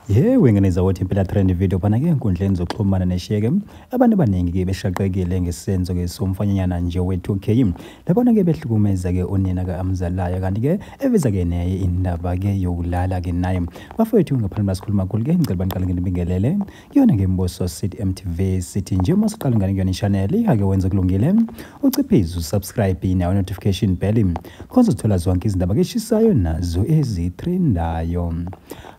ye wengene zawothi impela trend video phana ke enkundleni zokuxhumana neshiyeke abantu abaningi ke beshaqekile ngesenzo ke somfanyanyana nje we-2k labona ke behlukumeza ke unina ka-amzalayo kanti ke eveza ke neye indaba ke yokulala ke naye bafowethu ngaphambi basikhuluma khulu ke ngicela baniqale nginibingelele kuyona ke mbuso sithi mtv sithi nje uma siqala ngane kuyona ishaneli ake wenze kulungile uciphize usubscribe nawo notification bell khonza uthola zonke izindaba keshisayo nazo ezitrendayo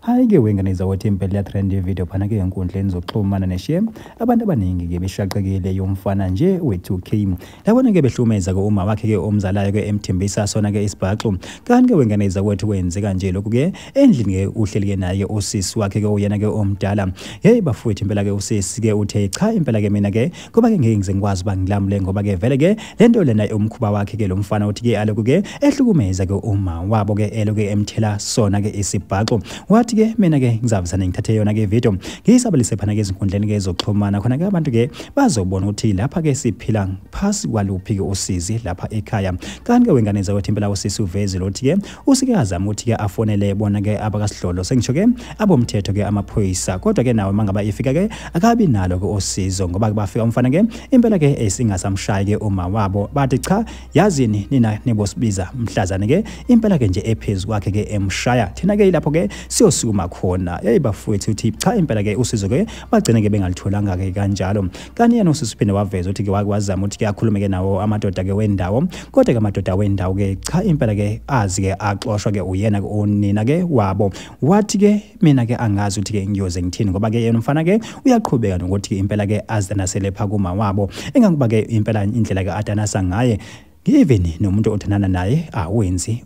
hayi ke wengane izawothi impela yatrend ivideo phana ke enkundleni zokuxhumana neshe abantu abaningi ke beshaqekile yomfana nje we-2k Labona ke behlumeza ke uma wakhe ke omzalayo ke emthembisa sona ke isibhaxu. Kanti ke wengane izakwethu kwenzeka nje lokhu ke endlini ke uhleli ke naye usisi wakhe ke uyena ke omdala. Hey bafowethu impela ke usisi ke uthe cha impela ke mina ke kuba ke ngeke ngize ngikwazi uba ngilamule ngoba ke vele ke lento lena umkhuba wakhe ke lo mfana uthi ke aloku ke ehlukumeza ke uma wabo ke eloke emthela sona ke isibhaxu. Wathi ke mina ke ngizavusana ngithathe yona ke video ngiyisabalise phana ke ezinkundleni ke zokuxhumana khona ke abantu ke bazobona ukuthi lapha ke siphila phasi kwaluphi ke usizi lapha ekhaya kanti ke wengane zakwethu impela usisi uvezile ukuthi ke usike azama ukuthi ke afonele bona ke abakasidlolo sengisho ke abomthetho ke amaphoyisa kodwa ke nawo mangaba ifika ke akabi nalo ke osizo ngoba bafika umfana ke impela ke esingasamshayi ke uma wabo bathi cha yazini nina nibosibiza mhlazane ke impela ke nje ephezulu kwakhe ke emshaya thina ke lapho ke siyosukuma khona yayibafowethu uthi cha impela ke usizo ke bagcine-ke bengalitholanga-ke kanjalo kanti yena usisi uphinde waveza ukuthi-ke wake wazama ukuthi-ke akhulume-ke nawo amadoda-ke wendawo kodwa-ke amadoda wendawo-ke cha impela-ke azi-ke axoshwa-ke uyena-ke unina-ke wabo wathi-ke mina-ke angazi ukuthi-ke ngiyoze ngithini ngoba-ke yena umfana-ke uyaqhubeka nokuthi-ke impela-ke aze naselepha kumawabo engangoba-ke impela indlela-ke adanasa ngaye Even nomuntu othandana naye awenzi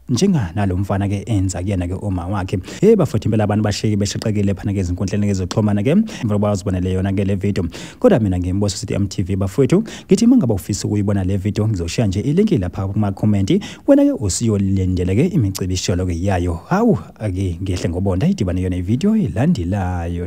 njenga nalomfana ke enza kuyena ke uma wakhe hey bafowethu impela abantu bashiki beshaqekile phana ke izinkundleni ngezoxhumana ke emva kokuba uzibonele yona ke le video kodwa mina ngimboso sithi MTV bafowethu ngithi uma ngaba ufisa ukuyibona le video ngizoshiya nje ilink lapha kuma comment wena ke usiyolindele ke imicibisholo ke yayo hawu ake ngehle ngobonda idibane yona ivideo elandelayo